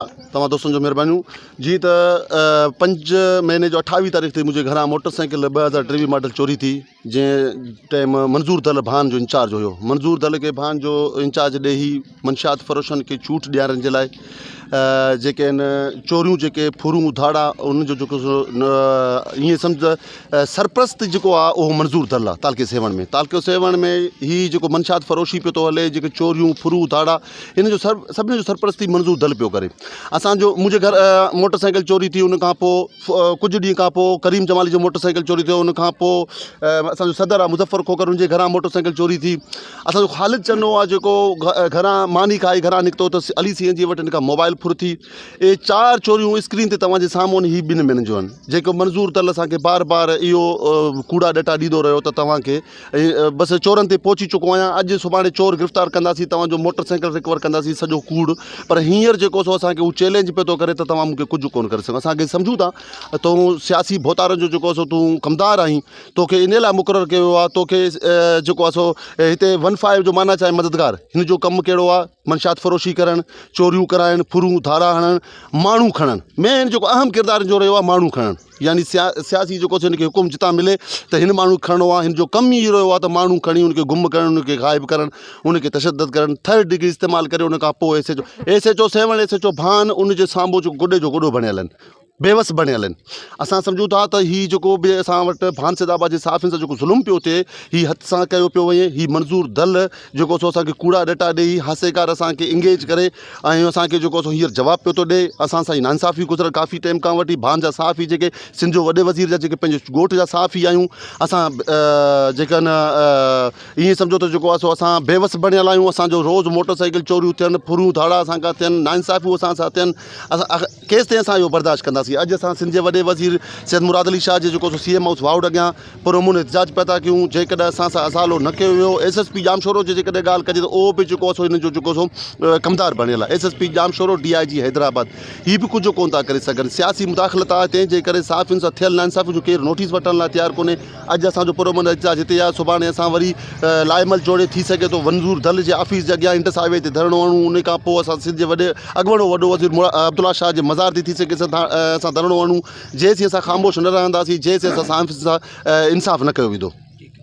توهان دوستن جو مھربانيون جي ته پنج مھيني جو اٺاويھ تاريخ تي منھنجي گھران موٽر سائيڪل ٻه هزار ٽيويھ ماڊل چوري ٿي جنهن ٽيم منظور دل ڀان جو انچارج هيو منظور دل کي ڀان جو انچارج ڏي هي منشيات فروشن کي چوٽ ڏيارن جي لاء جيڪي ان چوريون جيڪي ڦورون اڌاڙا ان جو جيڪو ائين سمجھ سرپرست جيڪو آ اهو منظور دل آ تعلقي سيوهڻ ۾ تعلقي سيوهڻ ۾ هي جيڪو منشيات فروشي پيو ٿو هلي جيڪي چوريون ڦرون اڌاڙا ان جو سر سڀني جو سرپرستي منظور دل پيو ڪري اسانجو منهنجي گهر موٽر سائيڪل چوري ٿي ان کان پوء ڪجهه ڏينهن کان پوء ڪريم جمالي جو موٽر سائيڪل چوري ٿيو ان کان پوء اسانجو صدر آهي مظفر کوکر ان جي گهران موٽر سائيڪل چوري ٿي اسانجو خالد چنو آهي جيڪو گهران ماني کائي گهران نڪتو ته علي سين جي وٽ ان کان موبائل ڦر ٿي اهي چار چوريون اسڪرين تي توهان جي سامهون آهن هي ٻن مهينن جون آهن جيڪو منظور دل اسانکي بار بار اهو ڪوڙا ڏٽا ڏيندو رهيو ته توهانکي بس چورن تي پهچي چڪو آهيان اڄ سڀاڻي چور گرفتار ڪنداسين توهان جو موٽر سائيڪل رڪور ڪنداسين سڄو ڪوڙ پر هينئر جيڪو سو اسان کي هو چئلينج پيو ٿو ڪري ته توهان مون کي ڪجهه ڪونه ڪري سگهو اسان کي سمجهون ٿا تون سياسي ڀوتارن جو جيڪو سو تون ڪمدار آهين توکي ان لاء مقرر ڪيو ويو آهي توکي جيڪو آهي سو هتي ون فائيو جو معنيٰ چاهي مددگار هن جو ڪم ڪهڙو آهي منشيات فروشي ڪرڻ چوريون ڪرائڻ ڦرون ڌارا هڻڻ ماڻهو کڻڻ مين جيڪو اهم ڪردار جو رهيو آهي ماڻهو کڻڻ يعني سيا سياسي جيڪو ٿيو انکي حڪم جتان ملي ته هن ماڻهو کي کڻڻو آهي هنجو ڪم ئي اهو رهيو آهي ته ماڻهو کڻي انکي گم ڪرڻ انکي غائب ڪرڻ انکي تشدد ڪرڻ ٿرڊ ڊگري استعمال ڪري انکان پوء S H O S H O seven S H O ڀان انجي سامهون جيڪو گڏي جو گڏو بڻيل آهن بيوس بڻيل آهن اسان سمجهون ٿا ته هي جيڪو به اسان وٽ ڀان سيد آباد جي صحافين سان جيڪو ظلم پيو ٿئي هي هٿ سان ڪيو پيو وڃي هي منظور دل جيڪو سو اسانکي ڪوڙا ڏٽا ڏئي هاسيڪار اسانکي انگيج ڪري ۽ اسان کي جيڪو سو هينئر جواب پيو ٿو ڏئي اسان سان جي ناانصافي گذريل ڪافي ٽيم کان وٺي ڀان جا صحافي جيڪي سنڌ جو وڏي وزير جا جيڪي پنهنجي ڳوٺ جا صحافي آهيون اسان جيڪي ان ائين سمجهو ته جيڪو آهي سو اسان بيوس بڻيل آهيون اسانجو روز موٽر سائيڪل چوريون ٿين ڦرون ڌاڙا اسان کان ٿين ناانصافيون اسان سان ٿين اسان ڪيستائين اسان اهو برداشت ڪنداسين اڄ اسان سنڌ جي وڏي وزير سيد مراد علي شاهه جي جيڪو سو سي ايم هائوس واهوڙ اڳيان پرامن احتجاج پيا ٿا ڪيون جيڪڏهن اسان سان ازالو نه ڪيو ويو ايس ايس پي ڄامشورو جي جيڪڏهن ڳالهه ڪجي ته اهو به جيڪو سو هنن جو جيڪو سو ڪمدار بڻيل آهي S S P Jamshoro D I G Hyderabad هي به ڪجهه ڪونه ٿا ڪري سگهن سياسي مداخلت آهي تنهن جي ڪري صحافين سان ٿيل ناانصافين جو ڪير نوٽيس وٺڻ لاء تيار ڪونهي اڄ اسان جو پرامن احتجاج هتي آهي سڀاڻي اسان وري لائحهعمل جوڙي ٿي سگهي ٿو ونزور دل جي آفيس جي اڳيان انڊس هاء وي تي ڌرڻو هڻون ان کان پوء اسان سنڌ جي وڏي اڳوڻو وڏو وزير عبدالله شاهه جي مزار تي ٿي سگهي اسان ڌرڻو هڻون جيسين اسان خاموش نه رهنداسين جيسين اسان سان انصاف نه ڪيو ويندو.